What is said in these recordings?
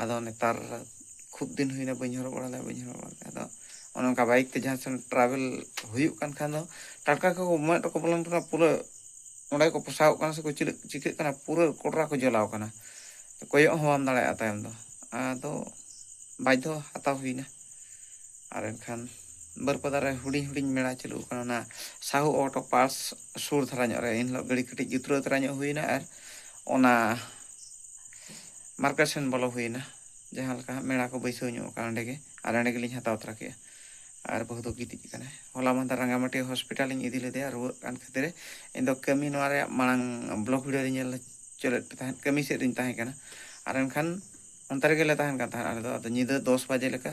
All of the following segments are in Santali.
ᱟᱫᱚ ᱱᱮᱛᱟᱨ ᱠᱷᱩᱵ ᱫᱤᱱ ᱦᱩᱭᱱᱟ ᱵᱟᱹᱧ ᱦᱚᱨᱚᱜ ᱵᱟᱲᱟ ᱞᱮᱫᱟ ᱵᱟᱹᱧ ᱦᱚᱨᱚᱜ ᱵᱟᱲᱟ ᱞᱮᱫᱟ ᱟᱫᱚ ᱚᱱᱮ ᱚᱱᱠᱟ ᱵᱟᱭᱤᱠ ᱛᱮ ᱡᱟᱦᱟᱸ ᱥᱮᱱ ᱴᱨᱟᱵᱷᱮᱞ ᱦᱩᱭᱩᱜ ᱠᱟᱱ ᱠᱷᱟᱱ ᱫᱚ ᱴᱟᱴᱠᱟ ᱜᱮᱠᱚ ᱢᱮᱫ ᱨᱮᱠᱚ ᱵᱚᱞᱚᱱ ᱠᱟᱱᱟ ᱯᱩᱨᱟᱹ ᱚᱸᱰᱮ ᱜᱮᱠᱚ ᱯᱚᱥᱟᱜᱚᱜ ᱠᱟᱱᱟ ᱥᱮᱠᱚ ᱪᱤᱞᱟᱹᱜ ᱪᱤᱠᱟᱹᱜ ᱠᱟᱱᱟ ᱯᱩᱨᱟᱹ ᱠᱚᱰᱨᱟ ᱠᱚ ᱡᱚᱞᱟᱣ ᱟᱠᱟᱱᱟ ᱠᱚᱭᱚᱜ ᱦᱚᱸ ᱵᱟᱢ ᱫᱟᱲᱮᱭᱟᱜᱼᱟ ᱛᱟᱭᱚᱢ ᱫᱚ ᱟᱫᱚ ᱵᱟᱫᱽᱫᱷᱚ ᱦᱟᱛᱟᱣ ᱦᱩᱭ ᱮᱱᱟ ᱟᱨ ᱮᱱᱠᱷᱟᱱ ᱵᱟᱹᱨᱤᱯᱟᱫᱟ ᱨᱮ ᱦᱩᱰᱤᱧ ᱦᱩᱰᱤᱧ ᱢᱮᱞᱟ ᱪᱟᱹᱞᱩᱜ ᱠᱟᱱᱟ ᱚᱱᱟ ᱥᱟᱦᱩ ᱚᱴᱳ ᱯᱟᱨᱴᱥ ᱥᱩᱨ ᱫᱷᱟᱨᱟ ᱧᱚᱜ ᱨᱮ ᱮᱱᱦᱤᱞᱳᱜ ᱜᱟᱹᱰᱤ ᱠᱟᱹᱴᱤᱡ ᱡᱩᱛᱨᱟᱹᱣ ᱫᱷᱟᱨᱟ ᱧᱚᱜ ᱦᱩᱭᱱᱟ ᱟᱨ ᱚᱱᱟ ᱢᱟᱨᱠᱮᱴ ᱥᱮᱱ ᱵᱚᱞᱚ ᱦᱩᱭᱮᱱᱟ ᱡᱟᱦᱟᱸ ᱞᱮᱠᱟ ᱦᱟᱸᱜ ᱢᱮᱲᱟ ᱠᱚ ᱵᱟᱹᱭᱥᱟᱹᱣ ᱧᱚᱜ ᱟᱠᱟᱱᱟ ᱚᱸᱰᱮ ᱜᱮ ᱟᱨ ᱚᱸᱰᱮ ᱜᱮᱞᱤᱧ ᱦᱟᱛᱟᱣ ᱛᱚᱨᱟ ᱠᱮᱫᱼᱟ ᱟᱨ ᱵᱟᱹᱦᱩ ᱫᱚ ᱜᱤᱛᱤᱡ ᱟᱠᱟᱱᱟᱭ ᱦᱚᱞᱟ ᱢᱟᱦᱫᱮᱨ ᱨᱟᱸᱜᱟᱢᱟᱹᱴᱤ ᱦᱚᱥᱯᱤᱴᱟᱞ ᱤᱧ ᱤᱫᱤ ᱞᱮᱫᱮᱭᱟ ᱨᱩᱣᱟᱹᱜ ᱠᱟᱱ ᱠᱷᱟᱹᱛᱤᱨ ᱤᱧ ᱫᱚ ᱠᱟᱹᱢᱤ ᱱᱚᱣᱟ ᱨᱮᱭᱟᱜ ᱢᱟᱲᱟᱝ ᱵᱞᱚᱜ ᱵᱷᱤᱰᱤᱭᱳ ᱨᱮ ᱧᱮᱞ ᱦᱚᱪᱚ ᱞᱮᱫ ᱯᱮ ᱛᱟᱦᱮᱸᱫ ᱠᱟᱹᱢᱤ ᱥᱮᱫ ᱨᱤᱧ ᱛᱟᱦᱮᱸ ᱠᱟᱱᱟ ᱟᱨ ᱮᱱᱠᱷᱟᱱ ᱚᱱᱛᱮ ᱨᱮᱜᱮ ᱞᱮ ᱛᱟᱦᱮᱱ ᱠᱟᱱ ᱛᱟᱦᱮᱸᱫ ᱟᱞᱮ ᱫᱚ ᱟᱫᱚ ᱧᱤᱫᱟᱹ ᱫᱚᱥ ᱵᱟᱡᱮ ᱞᱮᱠᱟ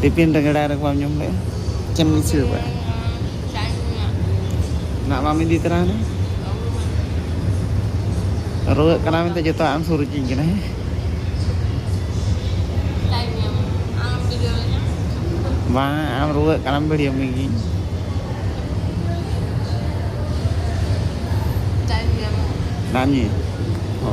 ᱴᱤᱯᱷᱤᱱ ᱨᱮ ᱜᱮᱰᱟᱭ ᱨᱮ ᱵᱟᱢ ᱡᱚᱢ ᱞᱮᱫᱼᱟ ᱪᱮᱫ ᱮᱢ ᱫᱤᱥᱟᱹ ᱠᱟᱜᱼᱟ ᱱᱟᱜ ᱵᱟᱢ ᱤᱫᱤ ᱛᱚᱨᱟ ᱦᱟᱱᱮ ᱨᱩᱣᱟᱹᱜ ᱠᱟᱱᱟ ᱢᱮᱱᱛᱮ ᱡᱚᱛᱚᱣᱟᱜ ᱮᱢ ᱥᱩᱨ ᱦᱚᱪᱚᱧ ᱠᱟᱱᱟ ᱦᱮᱸ ᱵᱟᱝ ᱟᱢ ᱨᱩᱣᱟᱹᱜ ᱠᱟᱱᱟᱢ ᱵᱷᱤᱰᱤᱭᱳ ᱢᱮᱜᱤᱧ ᱱᱟᱢᱤ ᱦᱳ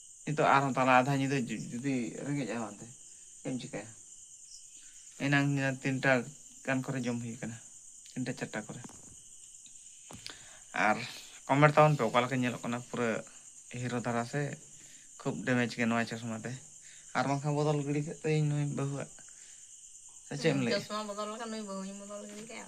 ᱱᱤᱛᱚᱜ ᱟᱨᱦᱚᱸ ᱛᱟᱞᱟ ᱟᱫᱷᱟ ᱧᱤᱫᱟᱹ ᱡᱩᱫᱤ ᱨᱮᱸᱜᱮᱡᱼᱟ ᱚᱱᱟᱛᱮ ᱪᱮᱫ ᱮᱢ ᱪᱤᱠᱟᱹᱭᱟ ᱮᱱᱟᱝ ᱛᱤᱱᱴᱟ ᱜᱟᱱ ᱠᱚᱨᱮ ᱡᱚᱢ ᱦᱩᱭ ᱟᱠᱟᱱᱟ ᱛᱤᱱᱴᱟ ᱪᱟᱨᱴᱟ ᱠᱚᱨᱮ ᱟᱨ ᱠᱚᱢᱮᱱᱴ ᱛᱟᱵᱚᱱ ᱯᱮ ᱚᱠᱟ ᱞᱮᱠᱟ ᱧᱮᱞᱚᱜ ᱠᱟᱱᱟ ᱯᱩᱨᱟᱹ ᱦᱤᱨᱳ ᱫᱷᱟᱨᱟ ᱥᱮ ᱠᱷᱩᱵ ᱰᱮᱢᱮᱡᱽ ᱜᱮᱭᱟ ᱱᱚᱣᱟ ᱪᱚᱥᱢᱟ ᱛᱮ ᱟᱨ ᱵᱟᱝᱠᱷᱟᱱ ᱵᱚᱫᱚᱞ ᱜᱤᱰᱤ ᱠᱟᱜ ᱛᱟᱹᱭᱟᱹᱧ ᱱᱩᱭ ᱵᱟᱹᱦᱩᱣᱟᱜ ᱥᱮ ᱪᱮᱫ ᱮᱢ ᱞᱟᱹᱭᱮᱜᱼᱟ ᱪᱚᱥᱢᱟ ᱵᱚᱫᱚᱞ ᱞᱮᱠᱷᱟᱱ ᱱᱩᱭ ᱵᱟᱹᱦᱩᱧ ᱵᱚᱫᱚᱞ ᱜᱤᱰᱤ ᱠᱟᱭᱟ